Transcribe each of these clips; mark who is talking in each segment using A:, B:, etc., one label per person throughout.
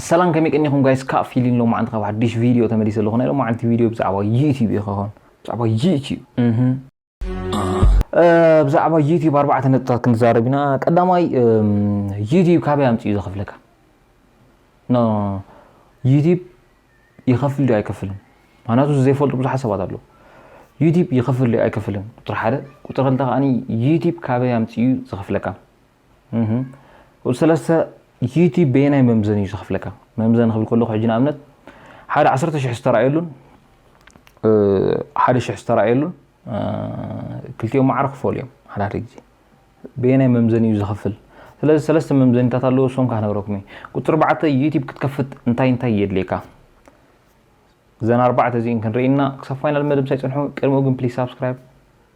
A: ሰላም ከመይ ቀኒኹም ጋይስ ካብ ፊሊን ሎማዓንቲ ካብ ሓድሽ ቪድዮ ተመሊሰ ኣለኹ ናይ ሎማዓንቲ ቪድዮ ብዛዕባ ዩቲዩብ እዩ ክኸውን ብዛዕባ ዩቲዩብ ብዛዕባ ዩቲዩብ ኣርባዕተ ነጥብታት ክንዛረብ ኢና ቀዳማይ ዩቲዩብ ካበይ ኣምፅኡ ዘኽፍለካ ዩቲዩብ ይኸፍል ዶ ኣይከፍልን ምክንያቱ ዘይፈልጡ ብዙሓት ሰባት ኣለዉ ዩቲዩብ ይኸፍል ዶ ኣይከፍልን ቁጥሪ ሓደ ቁጥሪ ክልተ ከዓኒ ዩቲዩብ ካበይ ኣምፅኡ ዘኽፍለካ ሰለስተ ዩቲብ በየናይ መምዘን እዩ ዝኸፍለካ መምዘን ክብል ከለኹ ሕጂ ንኣብነት ሓደ ዓሰርተ ሽሕ ዝተረኣየሉን ሓደ ሽሕ ዝተረኣየሉን ክልቲኦም ማዕረ ክፈሉ እዮም ሓደ ሓደ ግዜ በየናይ መምዘን እዩ ዝኸፍል ስለዚ ሰለስተ መምዘኒታት ኣለዎ እሶም ካህ ነብረኩም እዩ ቁፅሪ ኣርባዕተ ዩቲብ ክትከፍት እንታይ እንታይ የድልየካ እዘን ኣርባዕተ እዚእን ክንርኢና ክሳብ ፋይናል መደብ ሳይፅንሑ ቅድሚኡ ግን ፕሊስ ሳብስክራይብ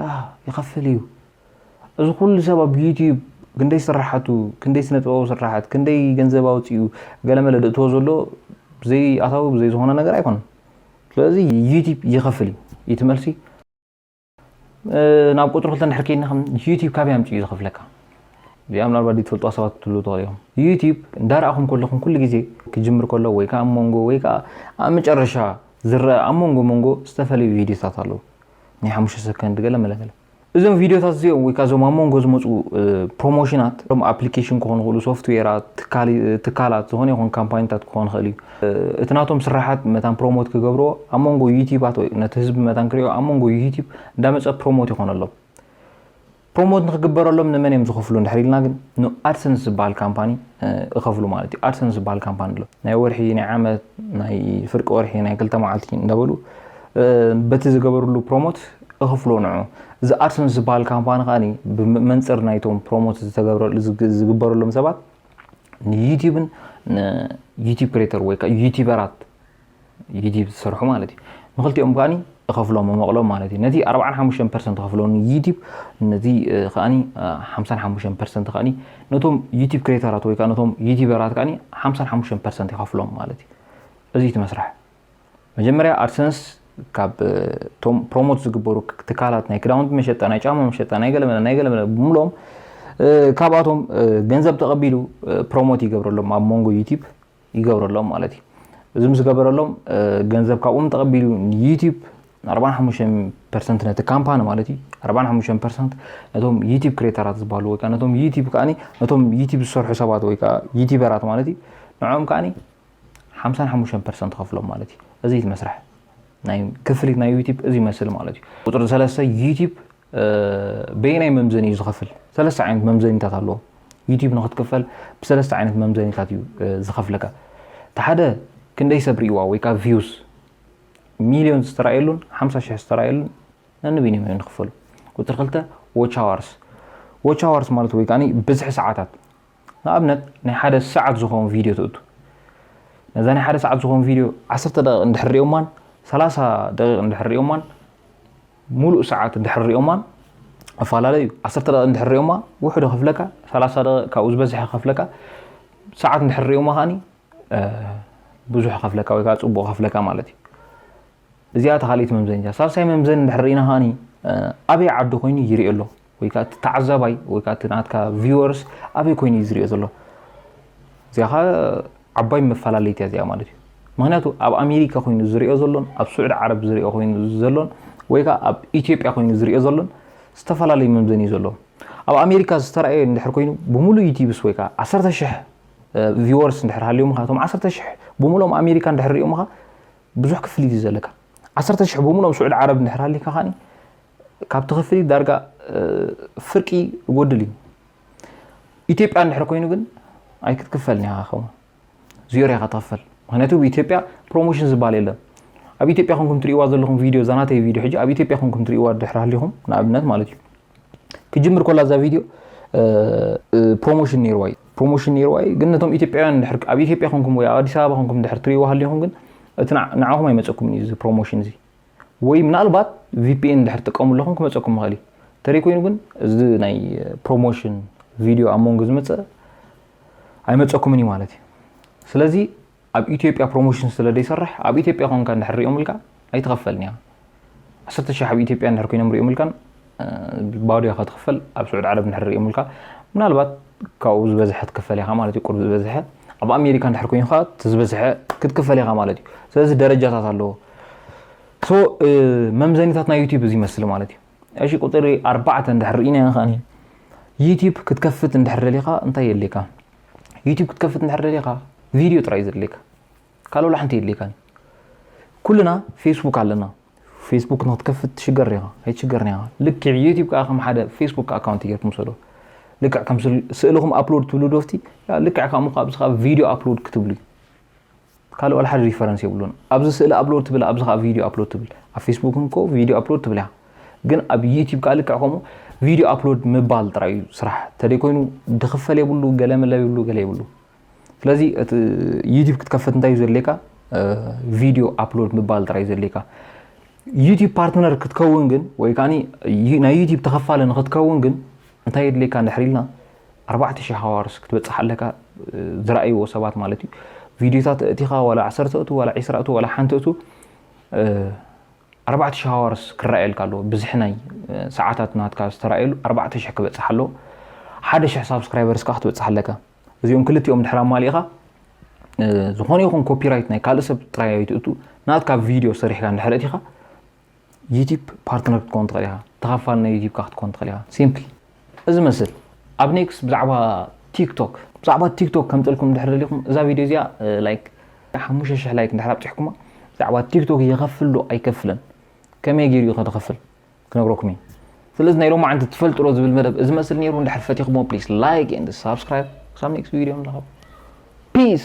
A: ያህ ይኸፍል እዩ እዚ ኩሉ ሰብ ኣብ ዩትዩብ ክንደይ ስራሓቱ ክንደይ ስነ ጥበባዊ ስራሓት ክንደይ ገንዘብ ኣውፅኡ ገለመለ ድእትዎ ዘሎ ብዘይ ኣታዊ ብዘይ ዝኾነ ነገር ኣይኮነን ስለዚ ዩትዩብ ይኸፍል እዩ እቲ መልሲ ናብ ቁፅሪ ክልተ ንድሕር ከይድና ከም ዩትዩብ ካበይ ኣምፅኡ እዩ ዝኸፍለካ እዚኣ ምናልባት ዝፈልጡ ሰባት ትሉ ትኽእሉ እዮም ዩትዩብ እንዳረኣኹም ከለኹም ኩሉ ግዜ ክጅምር ከሎ ወይ ከዓ ኣብ መንጎ ወይ ከዓ ኣብ መጨረሻ ዝረአ ኣብ መንጎ መንጎ ዝተፈላለዩ ቪዲዮታት ኣለዉ ናይ ሓሙሽተ ሰከንድ ገለ መለገለ እዞም ቪድዮታት እዚኦም ወይ ከዓ እዞም ኣብ መንጎ ዝመፁ ፕሮሞሽናት እም ኣፕሊኬሽን ክኾኑ ይኽእሉ ሶፍትዌራት ትካላት ዝኾነ ይኹን ካምፓኒታት ክኾን ይኽእል እዩ እቲ ናቶም ስራሓት መታን ፕሮሞት ክገብርዎ ኣብ መንጎ ዩቲባት ወይ ነቲ ህዝቢ መታን ክሪኦ ኣብ መንጎ ዩቲብ እንዳመፀ ፕሮሞት ይኾነሎም ፕሮሞት ንክግበረሎም ንመን እዮም ዝኸፍሉ እንድሕር ኢልና ግን ንኣድሰንስ ዝበሃል ካምፓኒ እኸፍሉ ማለት እዩ ኣድሰንስ ዝበሃል ካምፓኒ ኣሎ ናይ ወርሒ ናይ ዓመት ናይ ፍርቂ ወርሒ ናይ ክልተ መዓልቲ እንዳበሉ በቲ ዝገበርሉ ፕሮሞት እኽፍሎ ንዑ እዚ ኣድሰንስ ዝበሃል ካምፓኒ ከኣ ብመንፅር ናይቶም ፕሮሞት ዝግበረሎም ሰባት ንዩቲብን ንዩቲብ ክሬተር ወይ ከዓ ዩቲበራት ዩቲብ ዝሰርሑ ማለት እዩ ንክልቲኦም ከዓኒ እኸፍሎም መመቕሎም ማለት እዩ ነቲ 45 ፐርሰንት ከፍሎ ንዩቲብ ነዚ ከዓኒ 55 ፐርሰንት ከዓኒ ነቶም ዩቲብ ክሬተራት ወይ ከዓ ነቶም ዩቲበራት ከዓኒ 55 ፐርሰንት ይኸፍሎም ማለት እዩ እዚ እቲ መስርሕ መጀመርያ ኣድሰንስ ካብ ቶም ፕሮሞት ዝግበሩ ትካላት ናይ ክዳውንቲ መሸጣ ናይ ጫማ መሸጣ ናይ ገለመለ ናይ ገለመለ ብምሎም ካብኣቶም ገንዘብ ተቐቢሉ ፕሮሞት ይገብረሎም ኣብ መንጎ ዩቲብ ይገብረሎም ማለት እዩ እዚ ምስ ገበረሎም ገንዘብ ካብኦም ተቐቢሉ ንዩቲብ 45 ፐርሰንት ነቲ ካምፓኒ ማለት እዩ 45 ፐርሰንት ነቶም ዩቲብ ክሬተራት ዝበሃሉ ወይ ከዓ ነቶም ዩቲብ ከዓኒ ነቶም ዩቲብ ዝሰርሑ ሰባት ወይ ከዓ ዩቲበራት ማለት እዩ ንዕኦም ከዓኒ 55 ፐርሰንት ከፍሎም ማለት እዩ እዚ እቲ መስርሕ ናይ ክፍሊት ናይ ዩቲብ እዚ ይመስል ማለት እዩ ቁፅሪ ሰለስተ ዩቲብ በየናይ መምዘኒ እዩ ዝኸፍል? ሰለስተ ዓይነት መምዘኒታት ኣለዎ። ዩቲዩብ ንክትክፈል ብሰለስተ ዓይነት መምዘኒታት እዩ ዝኸፍለካ። እቲ ሓደ ክንደይ ሰብ ሪእዋ ወይ ከዓ ቪውስ ሚሊዮን ዝተራእየሉን ሓምሳ ሽሕ ዝተራእየሉን ነንበይኖም እዮም ዝኽፈሉ ቁፅሪ ክልተ ዎች ኣዋርስ ዎች ኣዋርስ ማለት ወይ ከዓ ብዝሒ ሰዓታት ንኣብነት ናይ ሓደ ሰዓት ዝኸውን ቪድዮ ትእቱ ነዛ ናይ ሓደ ሰዓት ዝኸውን ቪድዮ ዓሰርተ ደቂቕ እንድሕር ሪኦማን ሰላሳ ደቂቕ እንድሕር ሪኦማን ሙሉእ ሰዓት እንድሕር ሪኦማ እፋላለ እዩ ዓሰርተ ደቂቅ እንድሕር ሪኦማ ውሑድ እከፍለካ ሰላሳ ደቂቅ ካብኡ ዝበዝሐ እከፍለካ ሰዓት እንድሕር ሪኦማ ከዓኒ ብዙሕ እከፍለካ ወይ ከዓ ፅቡቅ እከፍለካ ማለት እዩ እዚኣ እታ ካልኢት መምዘኒታ ሳልሳይ መምዘኒ እንድሕር ሪኢና ከዓኒ ኣበይ ዓዲ ኮይኑ ይሪኦ ኣሎ ወይ ከኣ እቲ ተዓዛባይ ወይ ከኣ እቲ ናትካ ቪወርስ ኣበይ ኮይኑ እዩ ዝሪኦ ዘሎ እዚኣ ከ ዓባይ መፈላለይት እያ እዚኣ ማለት እዩ ምክንያቱ ኣብ ኣሜሪካ ኮይኑ ዝሪኦ ዘሎን ኣብ ስዑድ ዓረብ ዝሪኦ ኮይኑ ዘሎን ወይ ከዓ ኣብ ኢትዮጵያ ኮይኑ ዝሪኦ ዘሎን ዝተፈላለዩ መምዘኒ እዩ ዘለዎ ኣብ ኣሜሪካ ዝተረኣየ እንድሕር ኮይኑ ብምሉእ ዩቲብስ ወይ ከዓ ዓሰርተ ሽሕ ቪወርስ እንድሕር ሃልዮም ካ እቶም ዓሰርተ ሽሕ ብምሉኦም ኣሜሪካ እንድሕር ሪኦምኻ ብዙሕ ክፍሊት እዩ ዘለካ ዓሰርተ ሽሕ ብምሉኦም ስዑድ ዓረብ እንድሕር ሃሊካ ከዓኒ ካብ ትኽፍሊ ዳርጋ ፍርቂ ይጎድል እዩ ኢትዮጵያ እንድሕር ኮይኑ ግን ኣይክትክፈልን ኢኻ ከ ዝዮር ኢኻ ትኽፈል ምክንያቱ ኣብ ኢትዮጵያ ፕሮሞሽን ዝበሃል የለን ኣብ ኢትዮጵያ ኮንኩም ትሪእዋ ዘለኹም ቪድዮ እዛ ናተይ ቪድዮ ሕጂ ኣብ ኢትዮጵያ ኮንኩም ትሪእዋ ድሕር ሃሊኹም ንኣብነት ማለት እዩ ክጅምር ኮላ እዛ ቪድዮ ፕሮሞሽን ነይርዋ እዩ ፕሮሞሽን ነይርዋ እዩ ግን ነቶም ኢትዮጵያውያን ድሕር ኣብ ኢትዮጵያ ኮንኩም ወይ ኣብ ኣዲስ ኣበባ ኮንኩም ድሕር ትሪእዋ ሃሊኹም ግን እቲ ንዓኹም ኣይመፀኩምን እዩ እዚ ፕሮሞሽን እዚ ወይ ምናልባት ቪፒኤን ድሕር ትጥቀሙ ኣለኹም ክመፀኩም ይኽእል እዩ ተሪይ ኮይኑ ግን እዚ ናይ ፕሮሞሽን ቪድዮ ኣብ መንጎ ዝመፀ ኣይመፀኩምን እዩ ማለት እዩ ስለዚ ኣብ ኢትዮጵያ ፕሮሞሽን ስለ ዘይሰርሕ ኣብ ኢትዮጵያ ኮንካ እንድሕር ሪኦምልካ ኣይትኸፈልን እያ ዓሰርተ ሽሕ ኣብ ኢትዮጵያ እንድሕር ኮይኖም ሪኦምልካን ባዶ ኢካ ትክፈል ኣብ ስዑድ ዓረብ እንድሕር ሪኦምልካ ምናልባት ካብኡ ዝበዝሐ ትክፈል ኢካ ማለት እዩ ቁሩብ ዝበዝሐ ኣብ ኣሜሪካ እንድሕር ኮይኑ ከኣ እቲ ዝበዝሐ ክትክፈል ኢካ ማለት እዩ ስለዚ ደረጃታት ኣለዎ ሶ መምዘኒታት ናይ ዩቲዩብ እዚ ይመስል ማለት እዩ እሺ ቁፅሪ ኣርባዕተ እንድሕር ርኢናዮ ከኣ ዩቲዩብ ክትከፍት እንድሕር ደሊካ እንታይ የድልየካ ዩቲዩብ ክትከፍት እንድሕር ደሊካ ቪድዮ ጥራይ ዘድልየካ ካልእ ወላ ሓንቲ የድልየካን ኩልና ፌስቡክ ኣለና ፌስቡክ ንክትከፍት ትሽገር ኢኻ ኣይትሽገርን ኢኻ ልክዕ ዩቲብ ከዓ ከም ሓደ ፌስቡክ ኣካውንቲ ጌርኩም ሰዶ ልክዕ ከም ስእልኹም ኣፕሎድ ትብሉ ዶፍቲ ልክዕ ከምኡ ኣብዚ ከዓ ቪድዮ ኣፕሎድ ክትብሉ እዩ ካልእ ዋላ ሓደ ሪፈረንስ የብሉን ኣብዚ ስእሊ ኣፕሎድ ትብል ኣብዚ ከዓ ቪድዮ ኣፕሎድ ትብል ኣብ ፌስቡክ እንኮ ቪድዮ ኣፕሎድ ትብል እያ ግን ኣብ ዩቲብ ከዓ ልክዕ ከምኡ ቪድዮ ኣፕሎድ ምባል ጥራይ እዩ ስራሕ ተደይ ኮይኑ ድኽፈል የብሉ ገለ መለብ ይብሉ ገለ ይብሉ ስለዚ እቲ ዩቲብ ክትከፍት እንታይ እዩ ዘድልየካ ቪድዮ ኣፕሎድ ምባል ጥራይ እዩ ዘድልየካ ዩቲብ ፓርትነር ክትከውን ግን ወይ ከዓ ናይ ዩቲብ ተኸፋለ ንክትከውን ግን እንታይ የድልየካ እንድሕር ኢልና ኣርባዕተ ሽሕ ሃዋርስ ክትበፅሕ ኣለካ ዝረኣይዎ ሰባት ማለት እዩ ቪድዮታት እቲኻ ዋላ ዓሰርተ እቱ ዋላ ዒስራ እቱ ዋላ ሓንቲ እቱ ኣርባዕተ ሽሕ ሃዋርስ ክረኣየልካ ኣለዎ ብዝሒ ናይ ሰዓታት ናትካ ዝተረኣየሉ ኣርባዕተ ሽሕ ክበፅሕ ኣለዎ ሓደ ሽሕ ሳብስክራይበርስ ከዓ ክትበፅሕ ኣለካ እዚኦም ክልቲኦም ድሕር ኣማሊእኻ ዝኾነ ይኹን ኮፒራይት ናይ ካልእ ሰብ ጥራይ ኣይትእቱ ናትካ ቪድዮ ሰሪሕካ እንድሕር እቲኻ ዩቲብ ፓርትነር ክትከውን ትኽእል ኢኻ ተኻፋል ናይ ዩቲብካ ክትከውን ትኽእል ኢኻ ሲምፕል እዚ መስል ኣብ ኔክስት ብዛዕባ ቲክቶክ ብዛዕባ ቲክቶክ ከምፅልኩም ድሕር ደሊኹም እዛ ቪድዮ እዚኣ ላይክ ሓሙሽተ ሽሕ ላይክ እንድሕር ኣብፅሕኩማ ብዛዕባ ቲክቶክ የኸፍል ዶ ኣይከፍልን ከመይ ገይሩ እዩ ከድኸፍል ክነግረኩም እየ ስለዚ ናይ ሎማዓንቲ ትፈልጥሮ ዝብል መደብ እዚ መስል ነይሩ እንድሕር ፈቲኹሞ ፕሊስ ላይክ ኤንድ ሳብስክራይብ ክሳብ ኔክስት ቪድዮ ንራኸብ ፒስ